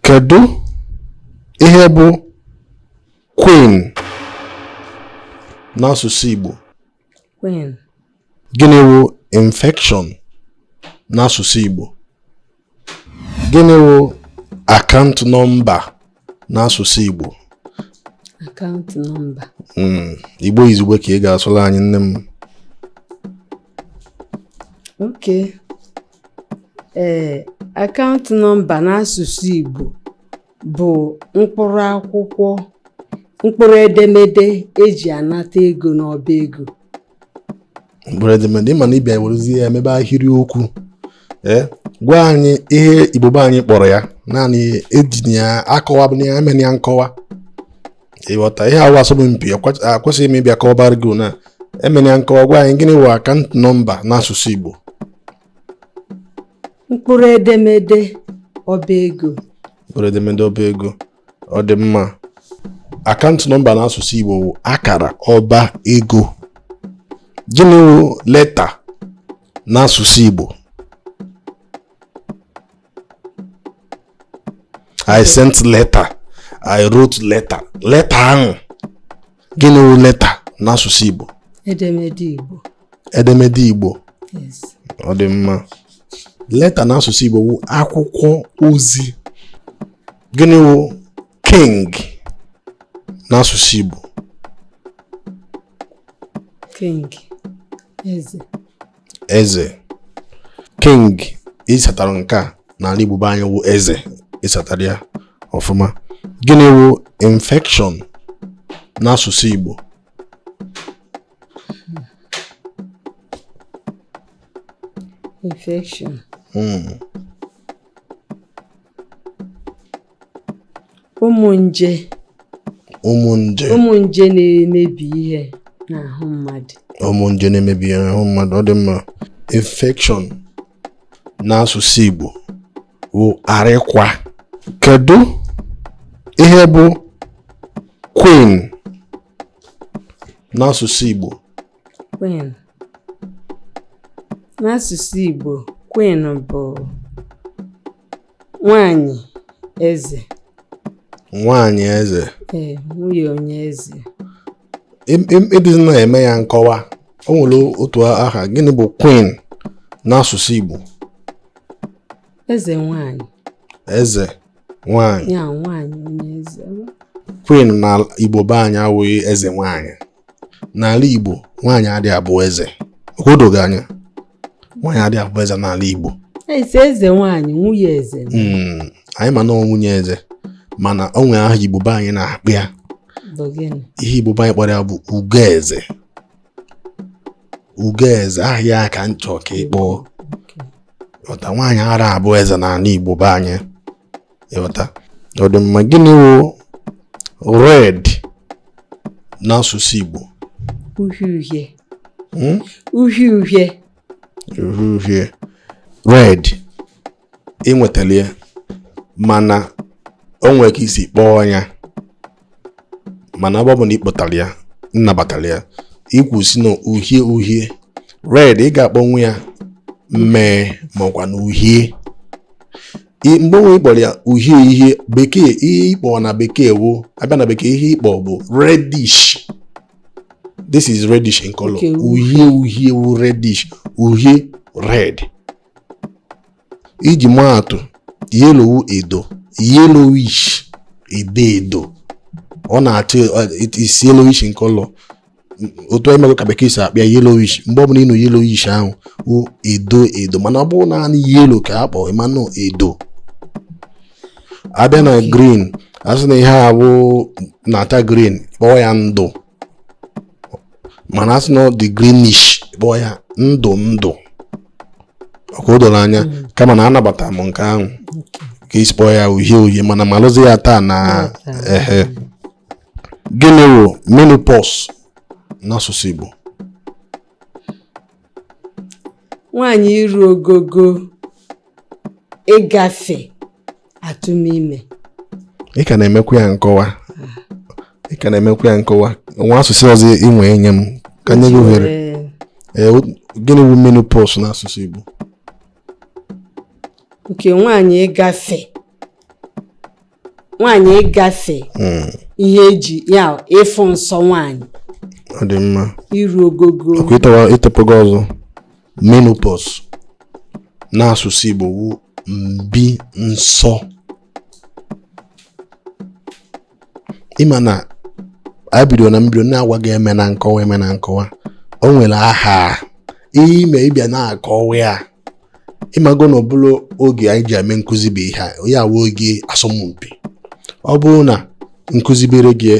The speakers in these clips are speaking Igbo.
Kedu ihe bụ Queen n'asụsụ Igbo? Queen. Gịnị wụ infection n'asụsụ Igbo? Gịnị wụ account nọmba n'asụsụ Igbo? Account nọmba. Hmm, Igbo izugbe ka ị ga-asụrụ anyị nne m. Okay. ee akaụntụ nọmba n'asụsụ Igbo bụ mkpụrụ akwụkwọ mkpụrụ edemede e ji anata ego n'ọba ego mkpụrụ edemede ị ma na ị bịa werezie ya mebe ahịrịokwu ee gwa anyị ihe Igbo be anyị kpọrọ ya naanị ejina ya akọwa bụ na ya emena ya nkọwa ị ghọta ihe a wụ asọmpi akwesịghị m ịbịa kọwabara gị na emena ya nkọwa gwa anyị gịnị wụ account nọmba n'asụsụ Igbo mkpụrụ edemede ọba ego mkpụrụ edemede ọba ego ọ dị mma account nọmba n'asụsụ Igbo wụ akara ọba ego gịnị wụ leta n'asụsụ Igbo I sent letter I wrote letter letter ahụ gịnị wụ letter n'asụsụ Igbo edemede Igbo edemede Igbo ọ dị mma leta n'asụsụ Igbo wụ akwụkwọ ozi gịnị wụ king n'asụsụ Igbo king eze eze king ị satara nke a n'ala Igbo be anyị wụ eze ị satara ya ọfụma gịnị wụ infection n'asụsụ Igbo infection hmm. ụmụ nje ụmụ nje ụmụ nje na-emebi ihe n'ahụ mmadụ ụmụ nje na-emebi ihe n'ahụ mmadụ ọ dị mma infection n'asụsụ Igbo bụ arịkwa kedu ihe bụ queen n'asụsụ Igbo queen n'asụsụ Igbo queen bụ nwanyị eze nwanyị eze ee nwunye onye eze ị dịzi na-eme ya nkọwa o nwere otu aha gịnị bụ queen n'asụsụ Igbo eze nwanyị eze nwanyị ya nwanyị onye eze queen na Igbo be anyị wụ eze nwanyị n'ala Igbo nwaanyị adị abụ eze o dogo gị anya nwaanyị adị abụ eze n'ala Igbo eze nwaanyị nwunye eze hmm, anyị ma na nwunye eze mana o nwere aha Igbo be anyị na-akpọ ya ihe Igbo be anyị kpọrọ ya bụ ugo eze ugo eze aha ya ka m chọ ka ị kpọpụta nwaanyị ara abụ eze n'ala Igbo be anyị ịghọta ọ dị mma gịnị wụ red n'asụsụ Igbo uhie uhie hmm? uhie uhie uhie uhie red i nwetala ya mana o nwere ka i si kpọọ ya mana ebe ọ bụ na ịkpọtara ya m nabatara ya ikwu sị na uhie uhie red ị ga-akpọnwu ya mmee makwa na uhie mgbe onwe ịkpọrọ ya uhie ihe bekee ihe ịkpọ na bekee wu abịa na bekee ihe ịkpọ bụ reddish this is reddish in color uhie uhie wu reddish uhie red iji maa atụ yellow wụ edo yellowish edo edo ọ na-asị yellowish in color otu a ịmago ka bekee si akpọ ya yellowish mgbe ọbụla ịnụ yellowish ahụ wụ edo edo mana ọ bụrụ naanị yellow ka a kpọrọ ịma na ọ edo abịa na green asị na ihe a bụ na-acha green kpọọ ya ndụ mana asị na ọ dị greenish kpọọ ya ndụ ndụ ọkwa o doro anya mm. kama na anabata m nke ahụ ka i si kpọọ ya uhie uhie mana malụzi ya taa na ehe gịnị wụ menopause n'asụsụ Igbo nwaanyị iru ogogo ịgafe atụmime ị ka na-emekwa ya nkọwa ị ka na-emekwa ya nkọwa nwee asụsụ ọzọ i nwe nye m ka m nye gị ohere gịnị bụ menopause n'asụsụ Igbo nke nwaanyị ịgafe nwaanyị ịgafe hmm. ihe eji ya ịfụ nsọ nwaanyị ọ dị mma iru ogogo ịtọpụgo ọzọ menopause n'asụsụ Igbo wu mbi nsọ ịma na a bido na mbido na-agwa gị emena nkọwa emena nkọwa o nwere aha ihe ime ịbịa na-akọwa ya ịmago na ọ bụrọ oge anyị ji eme nkụzi bụ ihe a ọ wụ oge asọmpi ọ bụrụ na m kụzibere gị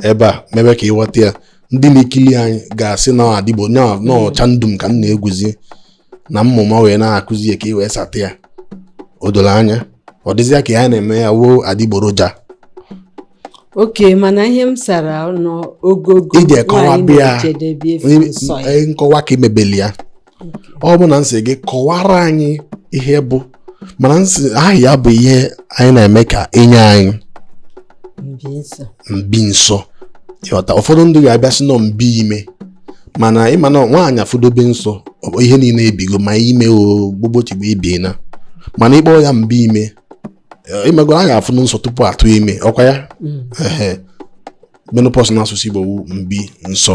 ebe a mebe ka ịghọta ya ndị na-ekili anyị ga-asị na adịgboroja ndụ m ka m na-egwuzi na mmụma wee na-akụzi ya ka i wee sata ya o doro anya ọ dịzịa ka ihe a na-eme a wụ adịgboroja okay mana ihe m sara n'ogogo iji ekọwa bịa nkọwa ka imebeli ya ọ bụ na m sị gị kọwara anyị ihe bụ menopause aha ya bụ ihe anyị na-eme ka e nye anyị mbi nsọ ịghọta ụfọdụ ndị ga-abịa sị na ọ mbi ime mana ị ma na nwaanyị afụdobe nsọ ihe niile ebigo ma ime o gbogbochigbo ebiena mana ịkpọ ya mbi ime ị magoro a ga-afụ nsọ tupu a tụ ime ọkwa ya mm. menopause na asụsụ Igbo wụ mbi nsọ